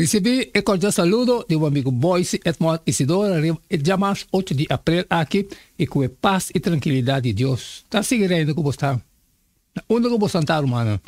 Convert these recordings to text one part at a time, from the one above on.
Ricibi e cordial saludo di bo amigo Boyce Edmond Isidora riba e dia mas ocho di april aki y cu e paz y tranquilidad di Dios ta sigui reina cu bo sta na unda cu bo santa rumannan.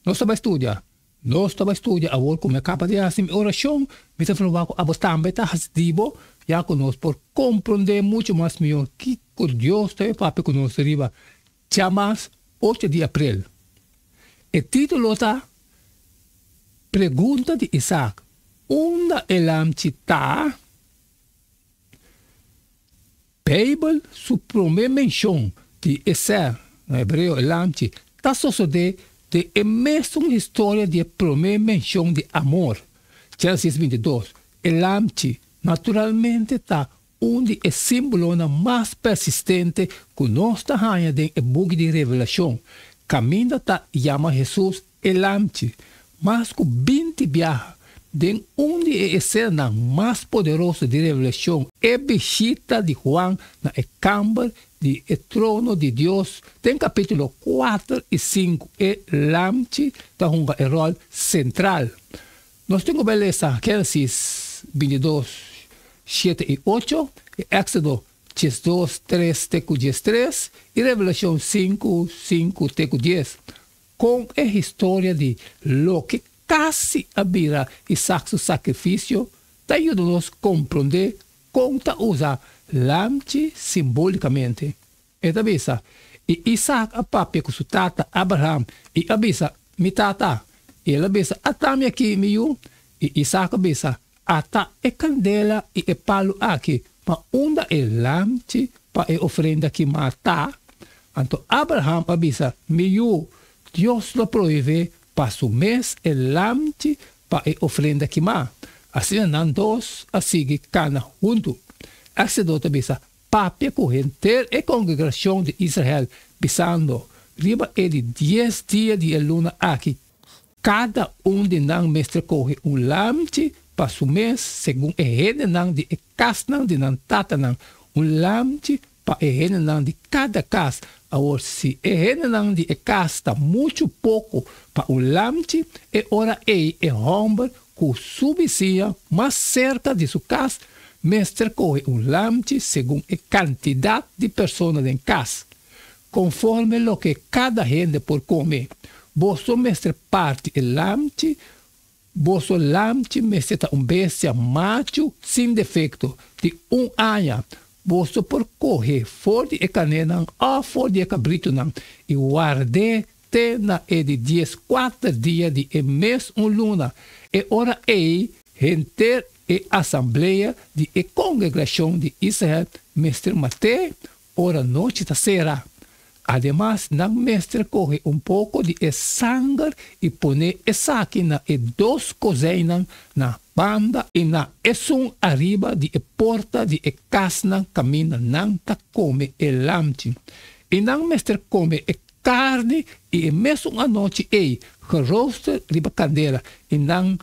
Nos ta bai studia Nos ta bai studia awor cu mi a caba di haci mi oracion mi ta verba cu abo tambe ta haci di bo ya cu nos por comprende mucho mas mihor kico Dios ta bai papia cu nos riba Dja mas ocho di aprel. E titulo ta Pregunta di Isaac, Unda e lamchi ta? Beibel su promé menshon di e sèl, na hebreo e lamchi, ta sosodé den e mesun historia di e promé menshon di amor, Génesis bintidós. E lamchi naturalmente ta Un di e símbolonan mas persistente ku nos ta haña den e buki di Revelashon kaminda ta yama Hesus e Lamchi. Mas ku binti biaha den un di e esenanan mas poderoso di Revelashon, e bishita di Juan na e kamber di e trono di Dios den kapítulo kuater i sinku, e Lamchi ta hunga e ròl sentral. Nos tin ku bai lesa Génesis bintidos, shete i ocho, i Éxodo djes dos, tres te ku djes tres, i Revelashon sinku, sinku te ku dies, kon e historia di loke kasi a bira Isak su sakrifisio ta yuda nos komprondé kon ta usa lamchi simbólikamente. E ta bisa, I Isaak a papia ku su tata Abraham, i a bisa, Mi tata! I el a bisa, Ata mi aki, mi yu? I Isaak a bisa, Ata e kandela i e palu aki, ma unda e lamchi pa e ofrenda kimá ta? Anto Abraham a bisa, Mi yu, Dios lo prohibe pa su mes e lamchi pa e ofrenda kimá. Asina nan dos a sigui kana huntu. Éxodo ta bisa, papia ku henter e kongregashon di Israel, bisando, Riba e di dies dia di e luna aki, kada un di nan mester kohe un lamchi pa su mes, segun e hendenan di e kasnan di nan tatanan, un lamchi pa e hendenan di kada kas. Awor, si e hendenan di e kas ta muchu poko pa un lamchi, e ora ei e hòmber ku su bisiña mas serka di su kas mester kohe un lamchi segun e kantidat di persona den kas, konforme loke kada hende por kome. Boso mester parti e lamchi, boso lamchi mester ta un bestia machu sin defekto, di un aña. Boso por kohe for di e kanenan òf for di e kabritunan i ward'é te na e di dies kuater dia di e mes un luna. E ora ei henter e asamblea di e kongregrashon di Israel mester mat'é ora nochi ta sera. Ademas nan mester kohe un poko di e sanger i pone esaki na e dos kozeinan na banda i na esun ariba di e porta di e kasnan kaminda nan ta kome e lamchi. I nan mester kome e Carni y e mesun anochi ey gerooster riba candela y nan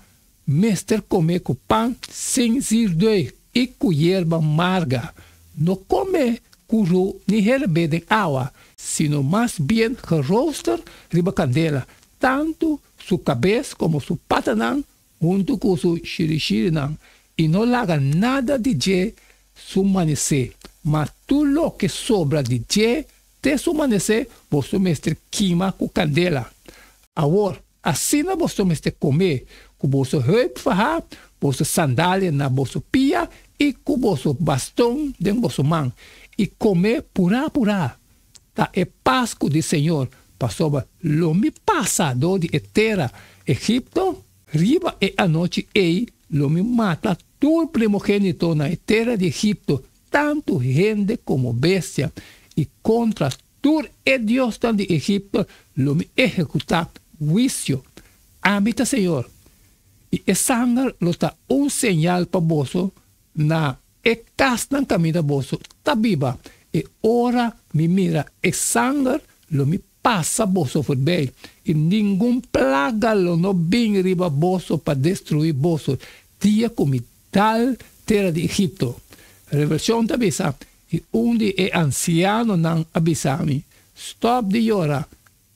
mester come cu pan sin zirdue y cu yerba marga. No come cu ru ni herbé den awa, sino mas bien gerooster riba candela, tanto su cabes como su patanan huntu ku su shirishirinan, i no laga nada di dje su manesé, mas tur loke sobra di dje te su manesé boso mester kima ku kandela. Awor, asina boso mester komé ku boso heup fahá, boso sandalia na boso pia i ku boso baston den boso man, i komé purá purá, ta e Pascu di Señor, pasobra lo mi pasa dor di e tera Egipto, riba e anochi ei lo mi mata tur primogénito na e tera di Egipto, tantu hende komo bestia, i kontra tur e diosnan di Egipto lo mi ehekutá huisio. Ami ta Señor, i e sanger lo ta un señal pa boso na E kasnan kaminda boso ta biba, e ora mi mira e sanger lo mi pasa boso forbei, i ningun plaga lo no bin riba boso pa destruí boso, dia ku mi dal tera di Egipto. Revelashon ta bisa, i un di e ansianonan a bisa mi, Stòp di yora!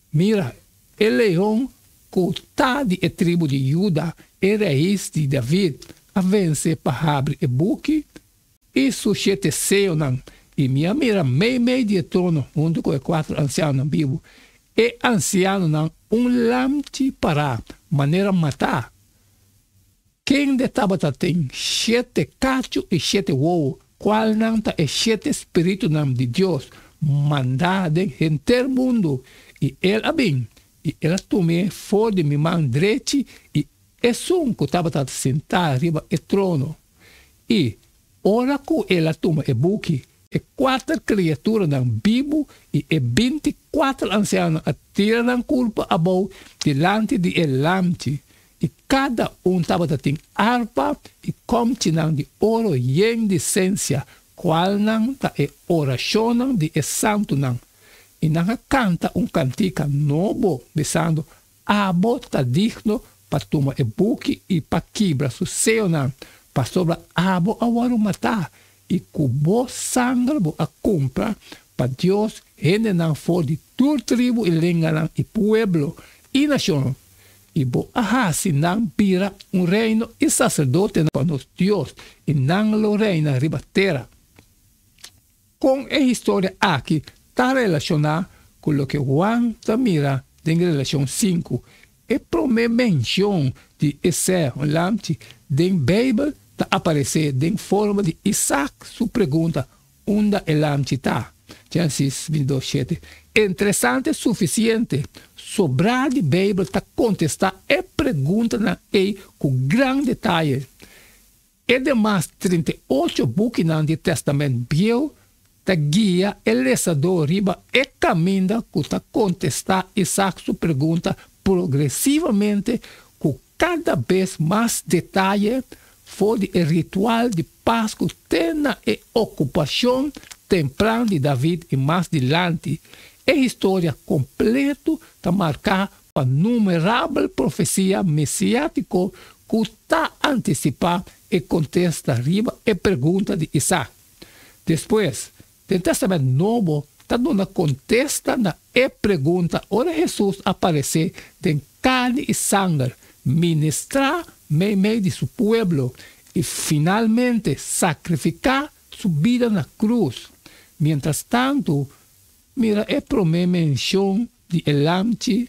Mira, e leon ku ta di e tribu di Juda, e rais di David, a vense pa habri e buki i su shete seyonan, i mi a mira meimei di e trono huntu ku e kuater ansianonan bibu, e ansianonan un lamchi pará, manera matá. Kende tabata tin shete kachu i shete wowo, kualnan ta e shete spiritunan di Dios mandá den henter mundu, i el a bin, i el a tum'é for di mi man drechi i esun ku tabata sentá riba e trono. I ora ku el a tuma e buki, e kuater kriaturanan bibu i e binti kuater ansianonan a tira nan kulpa abou dilanti di e Lamchi, I kada un tabata tin arpa i kòmchinan di oro yen di sensia, kualnan ta e orashonnan di e santunan, i nan a kanta un kantika nobo, bisando, Abo ta digno pa tuma e buki i pa kibra su seonan, pasobra abo a wòrdu matá, i ku bo sanger bo a kumpra pa Dios hendenan for di tur tribu i lenganan i pueblo i nashon, I bo a hasi nan bira un reino i saserdotenan pa nos Dios, i nan lo reina riba tera. Kon e historia aki ta relashoná ku loke Huan ta mira den Relashon sinku? E promé menshon di e sèhon lamchi den Beibel ta aparesé den forma di Isak su pregunta, Unda e lamchi ta? Gensis bintidos shete. Interesante sufisiente! Sobrá di Beibel ta kontestá e preguntanan ei ku gran detaye. E demas trinta i ocho bukinan di Tèstamènt Bieu ta guia e lesadó riba e kaminda ku ta kontestá Isaac su pregunta progresivamente ku Cada bes mas detaye for di e ritual di Pascu te na e ocupacion tempran di David i mas dilanti, e historia completo ta marca pa numerabel profecia mesiatico cu ta anticipa e contesta riba e pregunta di Isaac. Despues, Den Tèstamènt Nobo ta duna kontesta na e pregunta ora Hesus a paresé den karni i sanger, ministrá meimei di su pueblo i finalmente sakrifiká su bida na krus. Mientrastantu, mira e promé menshon di e lamchi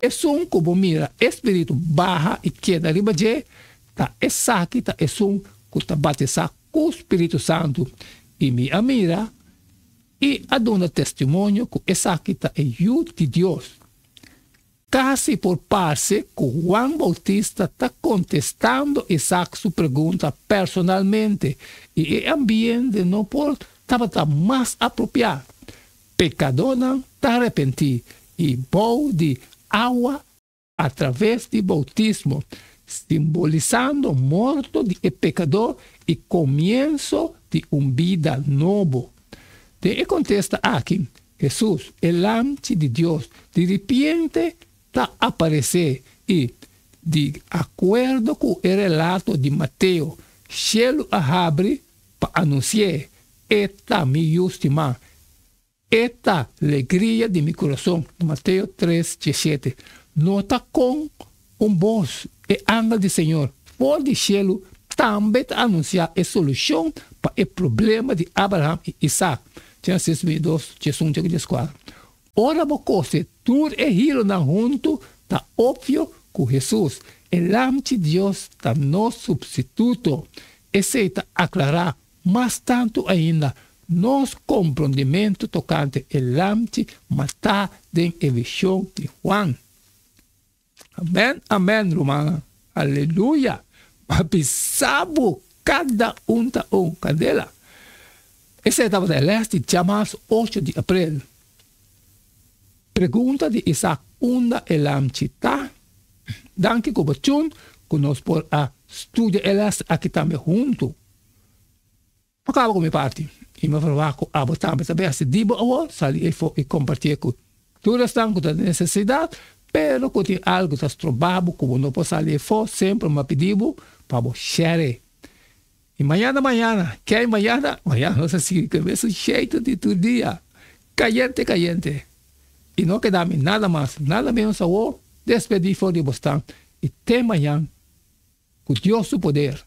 Esun ku bo mira e spiritu baha i keda riba dje, ta esaki ta esun ku ta batisá ku spiritu santu, i mi a mira i a duna testimonio ku esaki ta e Yu di Dios. Kasi por parse ku Juan Boutista ta kontestando Isaac su pregunta personalmente, i e ambiente no por tabata mas apropiá. Pekadónan ta arepentí i bou di awa atraves di boutismo, simbolisando morto di e pekadó i komienso di un bida nobo. Den e kontesta aki, Hesus, e Lamchi di Dios, di ripiente ta aparesé i, di akuerdo ku e relato di Mateo, shelu a habri pa anunsié e ta mi yu stimá, e ta legria di mi kurason. Mateo tres diesete. Nota kon un bos e angel di Señor for di shelu tambe ta anunsiá e solushon pa e problema di Abraham i Isak, Génesis veintidos diesuncho ku dieskuater. Ora bo kose tur e hilonan huntu, ta opvio ku Hesus, e Lam di Dios, ta nos supstituto. Esei ta aklará mas tantu ainda nos komprondimentu tokante e lamchi matá den e vishon di Huan. Amen amen rumannan aleluya papi sabu cada un ta un candela ese tabata e les di diamas ocho di april pregunta di Isaac unda e lamchi ta danki cu bo tune cu nos por a studia e les aki tambe hunto. Bo kaba ku mi parti i mi verwá ku abo tambe ta bèsti di bo awor sali efo i kompartié ku tur esnan ku ta den nesesidat. Pero ku tin algu ku ta stroba bo ku bo no por sali efo, semper mi a pidi bo pa bo share. I mañana mañana, ke i mañana mañana nos a sigui ku e mesun sheitu di tur dia, kayente kayente. I no keda mi nada mas, nada menos awor, despedí for di bosnan i te mañan. Ku Dios su poder.